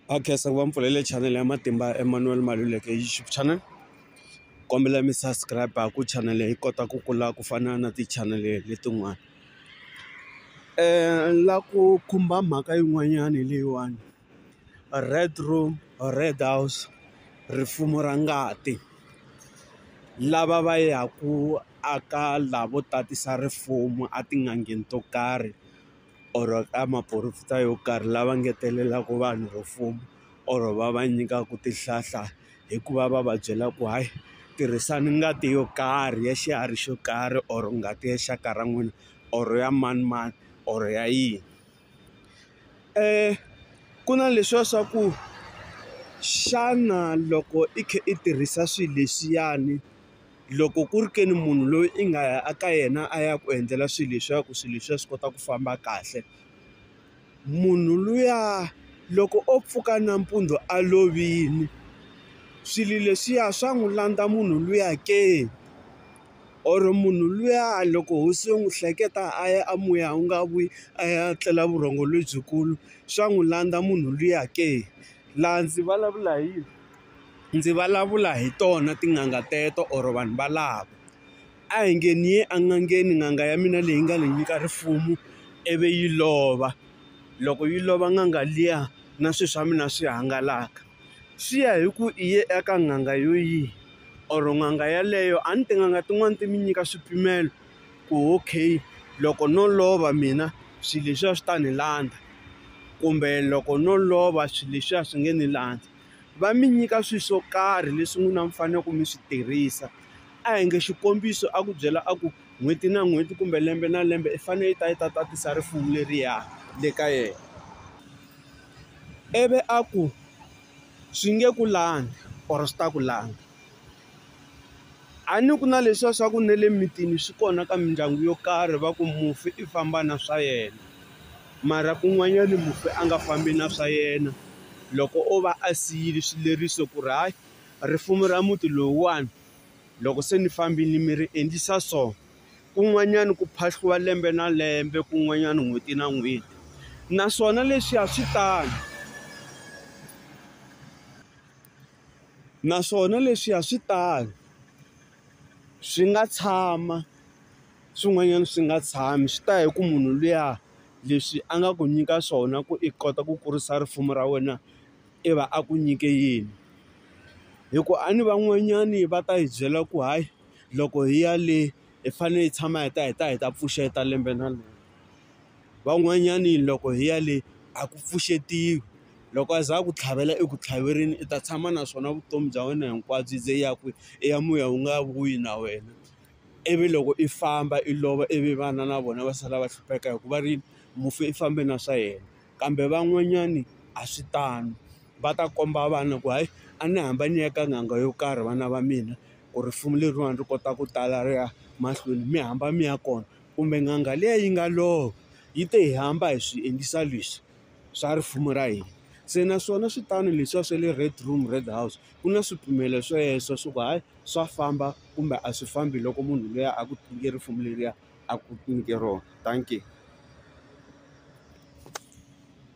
va khensa ku va mi pfulele chanele ya matimba ya Emmanuel Maluleke YouTube channel kombela mi subscribe ku chanele yi kota ku kula ku fana na tichanele letin'wana la ku khumba mhaka yin'wanyana leyiwani red room red house rifumo ra ngati lava va yaka aka lavo tatisa rifumo etin'angeni to karhi. or ka maporofita yo karhi lava ngetelelaka vanhu ro fuma or va va nyikaka tihlahla hikuva va va byela ku hayi tirhisani ngati yo karhi ya xiharhi xo karhi or ngati ya xaka ra n'wina or ya manimani or ya yini ku na leswiya swa ku xana loko i kha i tirhisa swilo leswiyani loko ku ri ke ni munhu loyi i nga ya eka yena a ya ku endlela swilo leswaku swilo leswiya swi kota ku famba kahle, munhu luya loko o pfuka nampundzu a lovile, swilo leswiya swa n'wi landza munhu luya ke? Or munhu luya loko hosi yo n'wi hleketa a ya a muya wu nga vuyi a ya tlela vurhongo lebyikulu, swa n'wi landza munhu luya ke? Laha ndzi vulavula hi yini? ndzi vulavula hi tona tin'anga teto or vanhu valavo. A hi nge ni ye en'angeni n'anga ya mina leyi nga ni nyika rifuwo ivi yi lova, loko yi lova n'anga liya na swilo swa mina swi hangalaka. Swi ya hi ku i ye eka n'anga yo yihi or n'anga yeleyo a ni tin'anga tin'wani ti mi nyika swipimelo ku okay loko no lova mina swilo leswiya swi ta ni landza kumbe loko no lova swilo leswiya swi nge ni landza. va mi nyika swilo swo karhi leswi n'wina mi faneleke mi swi tirhisa. A hi nge xikombiso a ku byela a ku n'hweti na n'hweti kumbe lembe na lembe i fanele i ta i ta tatisa rifuwo leriya le ka yena. Ivi a ku swi nge ku langa or swi ta ku langa. A ni ku na leswiya swa ku na le mitini swi kona ka mindyangu yo karhi va ku mufi i famba na swa yena mara kun'wanyani mufi a nga fambi na swa yena loko o va a siyile swileriso ku ri hayi risimu ra muti lowuwani loko se ni fambile mi ri endlisa so kun'wanyani ku phahliwa lembe na lembe kun'wanyana n'hweti na n'hweti naswona leswiya swi tano. Naswona leswi a swi tano, swi nga tshama swin'wanyana swi nga tshami swi ta ya hi ku munhu luya leswi a nga ku nyika swona ku i kota ku kurisa risimu ra wena i va a ku nyike yini. Hikuva a ni van'wanyani va ta hi byela ku hayi loko hi ya le hi fanele hi tshama hi ta hi ta hi ta pfuxeta lembe na lembe. van'wanyani loko hi ya le a ku pfuxetiwi loko a za a ku tlhavela eku tlhaverini i ta tshama naswona vutomi bya wena hinkwabyo ze i ya kwihi i ya muya wu nga vuyi na wena ivi loko i famba i lova ivi vana na vona va sala va hlupheka hikuva ri mufi i fambe na swa yena kambe van'wanyani a swi tano va ta komba vana ku hayi a ni hamba ni ya ka n'anga yo karhi vana va mina ku rifuwo leriwani ri kota ku tala ri ya mahlweni mi hamba mi ya kona. kumbe n'anga liya yi nga lova yi te hi hamba hi swi endlisa leswi swa rifumo ra hina se naswona swi tano leswiya swa le red room red house ku na swipimelo sweswo swa ku hayi swa famba kumbe a swi fambi loko munhu luya a ku nyike risimu leriya a ku nyike rona dankie.